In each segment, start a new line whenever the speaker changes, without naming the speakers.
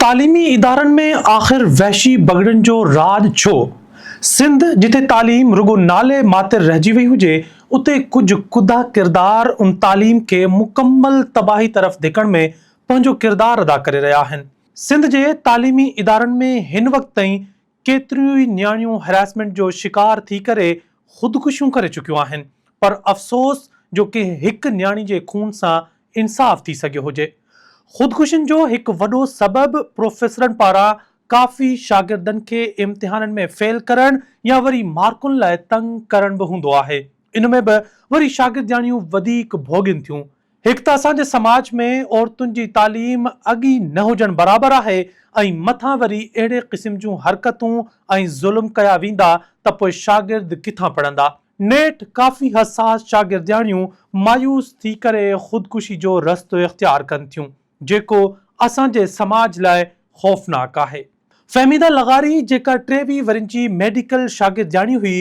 تعليمي ادارن ۾ آخر وحشي بگڙن جو راڄ ڇو؟ سنڌ جتي تعليم رڳو نالي ماتر رهجي وئي هجي اتي ڪجهه ڪڌا ڪردار ان تعليم کي مڪمل تباهي طرف ڌڪڻ ۾ پنهنجو ڪردار ادا ڪري رهيا آهن. سنڌ جي تعليمي ادارن ۾ هن وقت تائين ڪيتريون ئي نياڻيون هراسمينٽ جو شڪار ٿي ڪري خودڪشيون ڪري چڪيون آهن پر افسوس جو ڪنهن هڪ نياڻي جي خون سان انصاف ٿي سگهيو هجي. خودڪشين جو هڪ وڏو سبب پروفيسرن پاران ڪافي شاگردن کي امتحانن ۾ فيل ڪرڻ يا وري مارڪن لاء تنگ ڪرڻ به هوندو آهي. ان ۾ به وري شاگردياڻيون وڌيڪ ڀوڳين ٿيون هڪ ته اسان جي سماج ۾ عورتن جي تعليم اڳ ئي نه هجڻ برابر آهي ۽ مٿان وري اهڙي قسم جون حرڪتون ۽ ظلم ڪيا ويندا ته پوء شاگرد ڪٿان پڙهندا. نيٺ ڪافي حساس شاگردياڻيون مايوس ٿي ڪري خودڪشي جو رستو اختيار ڪن ٿيون جيڪو اسان جي سماج لاء خوفناڪ آهي. فهميده لغاري جيڪا ٽيويهه ورهين جي ميڊيڪل شاگردياڻي هئي،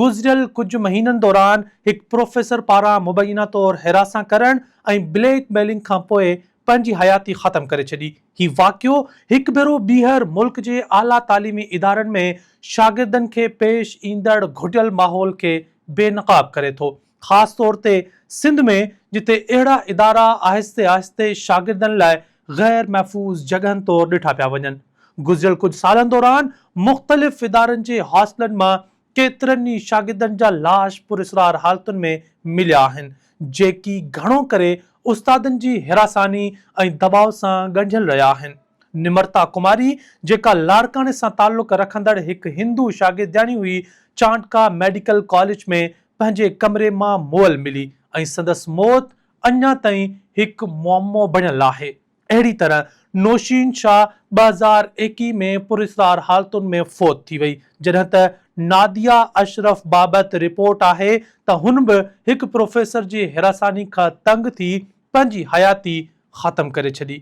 گذريل ڪجهه مهينن دوران هڪ پروفيسر پاران مبينا طور حراسان ڪرڻ ۽ بليڪ ميلنگ کانپوء پنهنجي حياتي ختم ڪري ڇڏي. هي واقعو هڪ ڀيرو ٻيهر ملڪ جي اعليٰ تعليمي ادارن ۾ شاگردن کي پيش ايندڙ گهٽيل ماحول کي بي نقاب ڪري ٿو. خاص طور تي سنڌ ۾ جتي اهڙا ادارا آهستي آهستي شاگردن لاء غير محفوظ جڳهن طور ڏٺا پيا وڃن. گذريل ڪجهه سالن دوران مختلف ادارن جي هاسٽلن مان ڪيترن ئي شاگردن جا لاش پراسرار حالتن ۾ مليا آهن، جيڪي گهڻو ڪري استادن جي حراساني ۽ دٻاء سان ڳنڍيل رهيا آهن. نمرتا ڪماري جيڪا لاڙڪاڻي سان تعلق رکندڙ هڪ هندو شاگردياڻي هئي، چانڊڪا ميڊيڪل ڪاليج ۾ پنهنجي ڪمري مان مئل ملي ۽ سندس موت اڃا تائين هڪ معمو بڻيل آهي. اهڙي طرح نوشين شاهه ٻه هزار ايڪيهه ۾ پراسرار حالتن ۾ فوت ٿي وئي، جڏهن ته ناديه اشرف بابت رپورٽ آهي ته هن به هڪ پروفيسر جي هراساني کان تنگ ٿي پنهنجي حياتي ختم ڪري ڇڏي.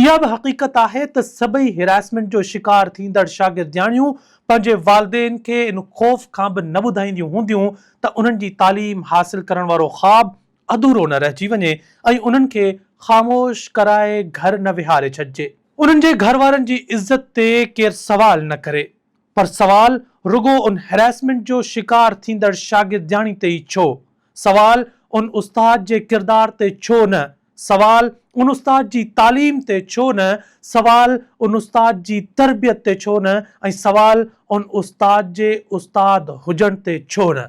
اها به حقيقت آهي ته سڀئي هراسمينٽ جو شڪار ٿيندڙ شاگردياڻيون پنهنجي والدين کي ان خوف کان به نه ٻڌائينديون هونديون ته انهن جي تعليم حاصل ڪرڻ وارو خواب اڌورو نه رهجي وڃي ۽ انهن کي خاموش ڪرائي گهر نه ويهاري ڇڏجي. انهن جي گهر وارن جي عزت تي ڪير سوال نه ڪري پر سوال رڳو ان هراسمينٽ جو شڪار ٿيندڙ شاگردياڻي تي ئي ڇو سوال، ان استاد جي ڪردار تي ڇو نه؟ سوال، ان استاد جي تعليم تي ڇو نه؟ سوال، ان استاد جي تربيت تي ڇو نه؟ ۽ سوال، ان استاد جي استاد هجڻ تي ڇو نه؟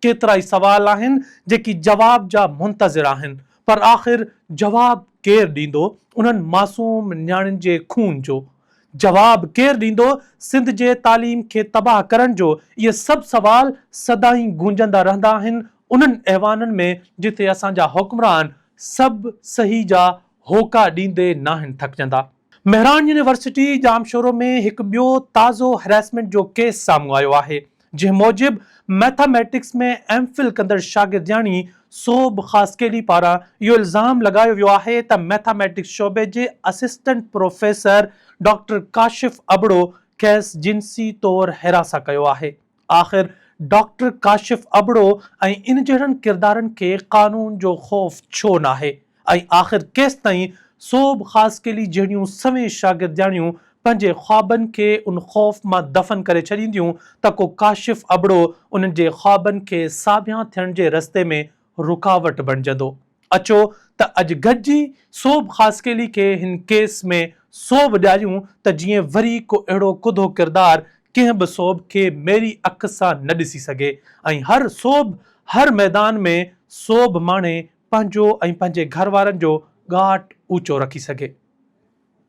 ڪيترائي سوال آهن جيڪي جواب جا منتظر آهن، پر آخر جواب ڪير ڏيندو انهن معصوم نياڻين جي خون جو؟ جواب ڪير ڏيندو سنڌ جي تعليم کي تباهه ڪرڻ جو اهي سڀ سوال سدائين گونجندا رهندا آهن انهن ايوانن ۾ جتي اسان جا حڪمران سڀ صحيح جا هوڪا ڏيندي ناهن ٿڪجندا. مهراڻ يونيورسٽي ڄامشورو ۾ هڪ ٻيو تازو هريسمينٽ جو ڪيس سامهون آيو آهي جنهن موجب ميٿا ميٽڪس ۾ ايم فل ڪندڙ شاگردياڻي سوڀ خاصخيلي پاران اهو الزام لڳايو ويو آهي ته ميٿا ميٽڪس شعبي جي assistant professor doctor Kashif Abro کيس جنسي طور حراسان ڪيو آهي آخر ڊاڪٽر ڪاشف ابڙو ۽ ان جهڙن ڪردارن کي قانون جو خوف ڇو ناهي. ۽ آخر ڪيستائين سوڀ خاصخيلي جهڙيون سوين شاگردياڻيون پنهنجي خوابن کي ان خوف مان دفن ڪري ڇڏينديون ته ڪو ڪاشف ابڙو انهن جي خوابن کي ساڀيان ٿيڻ جي رستي ۾ رڪاوٽ بڻجندو. اچو ته اڄ گڏجي سوڀ خاصخيلي کي هن ڪيس ۾ سوڀ ڏياريون ته جيئن وري ڪو اهڙو ڪڌو ڪردار ڪنهن به سوڀ کي ميري اک سان نه ڏسي سگهي ۽ هر سوڀ هر ميدان ۾ سوڀ ماڻي پنهنجو ۽ پنهنجي گهر وارن جو ڳاٽ اوچو رکي سگهي.